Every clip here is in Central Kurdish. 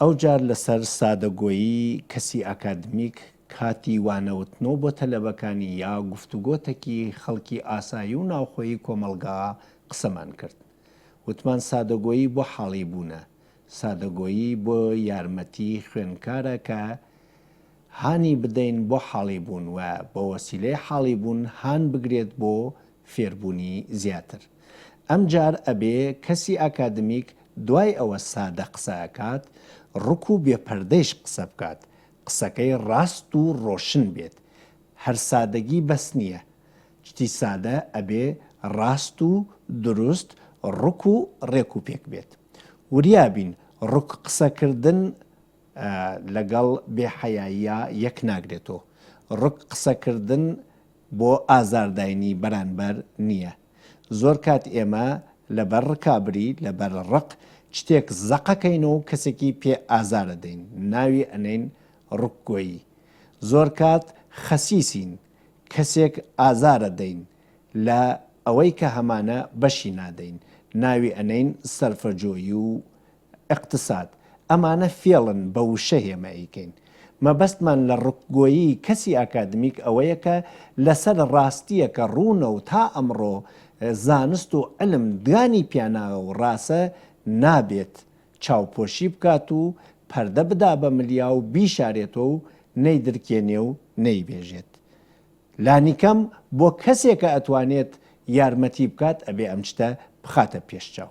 ئەو جار لەسەر سادەگۆیی کەسی ئاکادمیک کاتی وانەوتنۆ بۆ تەلەبەکانی یا گفتوگۆتەکی خەڵکی ئاسایی و ناوخۆیی کۆمەڵگا قسەمان کرد. وتمان سادەگۆیی بۆ حاڵی بوونە. سادەگۆیی بۆ یارمەتی خوێنکارە کە هانی بدەین بۆ حاڵی بوون و بەوەسیلەی حاڵی بوون هان بگرێت بۆ فێربونی زیاتر ئەم جار ئەبێ کەسی ئاکادمیک دوای ئەوە سادە قسە ئەکات ڕک و بێ پەردەیش قسە بکات قسەکەی ڕاست و ڕۆشن بێت هەر سادەگی بەس نیە چتی سادە ئەبێ ڕاست و دروست ڕک و ڕێک و پێک بێت وریا بین ڕک قسە کردن لەگەڵ بێ حەیاییا یەک ناگرێتۆ ڕک قسە کردن بۆ ئازار داینی بەرانبەر نیە زۆر کات ئێمە لەبەر ڕکابری لەبەر ڕق چتێک زەقە کەین و کەسێکی پێ ئازارە دەین ناوی ئەنین ڕک گۆیی زۆر کات خەسیسین کەسێک ئازارە دەین لە ئەوەی کە هەمانە بەشی نادەین ناوی ئەنین سەرفەجۆیی و ئیقتساد، ئەمانە فێڵن بە وشە هێما ئەیکەین. مەبەستمان لە ڕکگۆیی کەسی ئاکادمیک ئەوەیە کە لە سەر ڕاستییەکە ڕوونە و تا ئەمڕۆ زانست و عیلم دانی پیاناوە و ڕاسە، نابێت چاوپۆشی بکات و پەردە بدا بە ملیا و بیشارێتەوە و نەیدرکێنێ و نەیبێژێت. لانیکەم بۆ کەسێکە ئەتوانێت یارمەتی بکات ئەبێ ئەم شتە بخاتە پێش چاو.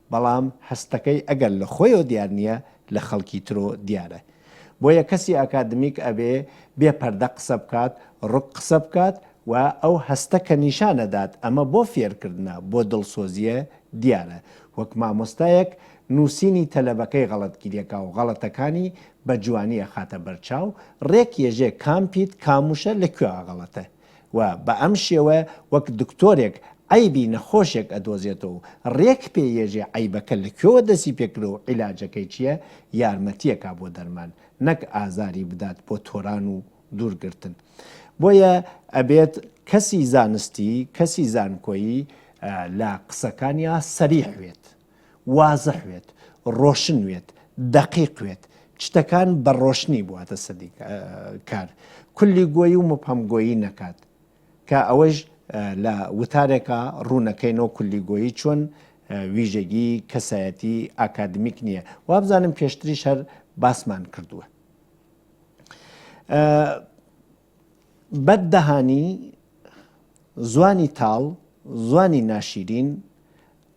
بەڵام هەستەکەی ئەگەر لە خۆیەوە دیار نیە لە خەڵکی ترۆ دیارە بۆیە کەسی ئاکادمیک ئەبێ بێ پەردە قسە بکات ڕوک قسە بکات و ئەو هەستە کە نیشان ئەدات ئەمە بۆ فێرکردنە بۆ دڵسۆزیە دیارە وەک مامۆستایەک نوسینی تەلەبەکەی غەڵەت گیرەکا و غەڵەتەکانی بە جوانی ئەخاتە بەرچاو ڕێک یەژێ کام پیت کام وشە لە کوێ غەڵەتە و بە ئەم شێوە وەک دکتۆرێک عەیبی نەخۆشێک ئەدۆزێتەوە و رێک پێ یێژێ عەیبەکە لە کوێوە دەستی پێ کرد و عیلاجەکەی چیە یارمەتیەکا بۆ دەرمان نەک ئازاری بدات بۆ تۆران و دوور گرتن بۆیە ئەبێت کەسی زانستی کەسی زانکۆیی لە قسەکانیا سەریح وێت. وازح وێت، ڕۆشن وێت، دەقیق وێت، چتەکان بە ڕۆشنی بواتە سەدی کار، کلی گۆیی و مبهم گۆیی نەکات، کە ئەوەیش لە وتارێکا ڕوونەکەینەوە کلی گۆیی چۆن ویژەگی کەسایەتی ئاکادمیک نییە، وابزانم پێشتریش هەر باسمان کردووە. بەد دەهانی زوانی تاڵ زوانی ناشیرین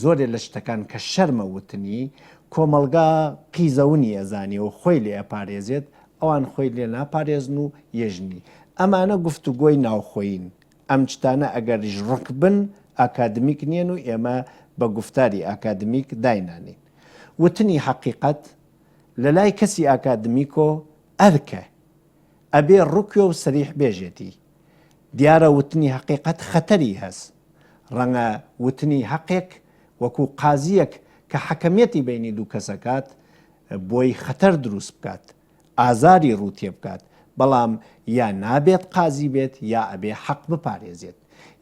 زۆرێ لە شتەکان کە شەرمە وتنی، کۆمەڵگا قیزەونی ئەزانێ و خۆی لێ ئەپارێزێت، ئەوان خۆی لێ ناپارێزن و یەژنی. ئەمانە گفتوگۆی ناوخۆیین. ئەم شتانە ئەگەریش ڕق بن، ئاکادمیک نیەن و ئێمە بە گوفتاری ئاکادمیک داینانێین. وتنی حەقیقەت لە لای کەسی ئاکادمیکۆ ئەرکە. ئەبێ ڕوکێ و سەریح بێژێتی. دیارە وتنی هەقیقەت خەتەری هەس، ڕەنگە وتنی هەقێک وەکو قازییەک کە حەکەمیەتی بەینی دوو کەس ئەکات بۆی خەتەر دروست بکات، ئازاری ڕوو تێبکات، بەڵام یا نابێت قازی بێت یا ئەبێ حەق بپارێزێت،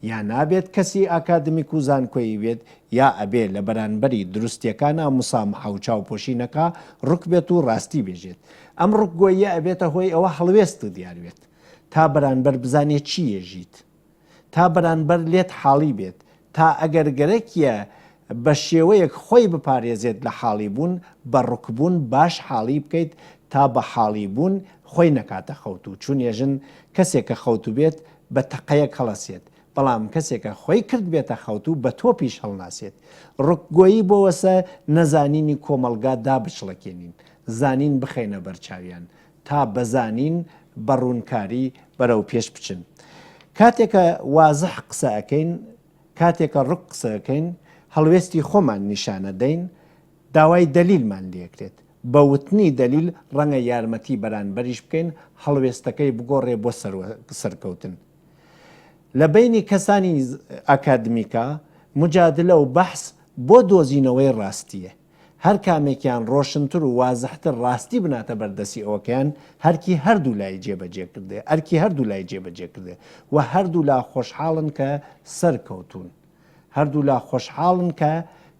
یا نابێت کەسی ئاکادمیک و زانکۆیی بێت یا ئەبێ لە بەرانبەری دروستیەکانا مسامحە و چاوپۆشی نەکا، ڕک بێت و ڕاستی بێژێت. ئەم ڕکگۆییە ئەبێتە هۆی ئەوە هەڵوێست و دیار بێت. تا بەرانبەر بزانێ چی یەژیت تا بەرانبەر لێت حاڵی بێت تا ئەگەر گەرەکیە بە شێوەیەک خۆی بپارێزێت لە حاڵی بوون بە ڕکبوون باش حاڵی بکەیت تا بە حاڵی بوون خۆی نەکاتە خەوتوو چون یەژن کەسێک کە خەوتوو بێت بە تەقەیەک هەڵەسێت بەڵام کەسێک کە خۆی کرد بێتە خەوتوو بە تۆپیش هەڵناسێت ڕکگۆیی بۆوەسە نەزانینی کۆمەڵگا دابچڵەکێنین زانین بخەینە بەرچاویان تا بزانین بە ڕوونکاری بەرەو پێش بچن کاتێکە وازح قسە ئەکەین کاتێکە ڕوک قسەکەین هەڵوێستی خۆمان نیشانە دەین داوای دەلیلمان لێکرێت بە وتنی دەلیل ڕەنگە یارمەتی بەرانبەریش بکەین هەڵوێستەکەی بگۆڕێ بۆ سەرکەوتن لە بینی کەسانی ئەکادمیکا مجادلە و بەحس بۆ دۆزینەوەی ڕاستیە هەر کامێکیان ڕۆشنتر و وازحتر ڕاستی بناتە بەر دەسی ئەوەکەیان هەرکی هەردوو لای جێ بەجێ کردێ ئەرکی هەردوو لای جێ بەجێ کردێ و هەردوو لا خۆشحاڵن کە سەر کەوتوون هەردوو لا خۆشحاڵن کە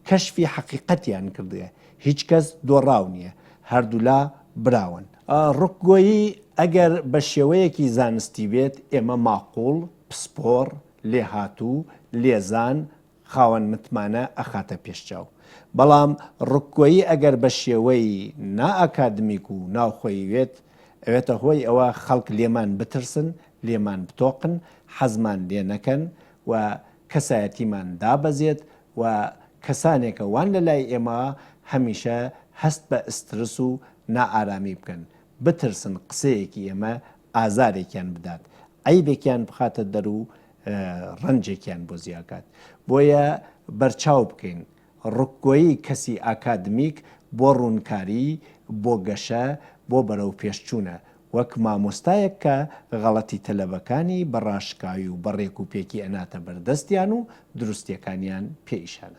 کەشفی حەقیقەتیان کردێ هیچ کەس دۆڕاو نیە هەردوو لا براون. ڕکگۆیی ئەگەر بە شێوەیەکی زانستی بێت ئێمە ماقوڵ، پسپۆڕ، لێهاتوو، لێزان، خاوەن متمانە ئەخاتە پێشچاو بەڵام ڕکگۆیی ئەگەر بە شێوەی نا ئاکادمیک و ناوخۆیی وێت ئەوێتە هۆی ئەوە خەڵک لێمان بترسن لێمان بتۆقن حەزمان لێ نەکەن و کەسایەتیمان دابەزێت و کەسانێکە وان لە لای ئێمە هەمیشە هەست بە ئسترس و نا ئارامی بکەن بترسن قسەیەکی ئێمە ئازارێکیان بدات عەیبێکیان بخاتە دەر و ڕەنجێکیان بۆ زیاکات بۆیە بەرچاو بکەین ڕکگۆیی کەسی ئاکادمیک بۆ ڕوونکاری بۆ گەشە بۆ بەرەو پێشچوونە وەک مامۆستایەک کە غەڵەتی تەلەبەکانی بە ڕاشکاوی و بە ڕێکوپێکی ئەناتە بەردەستیان و دروستیەکانیان پێ ئیشان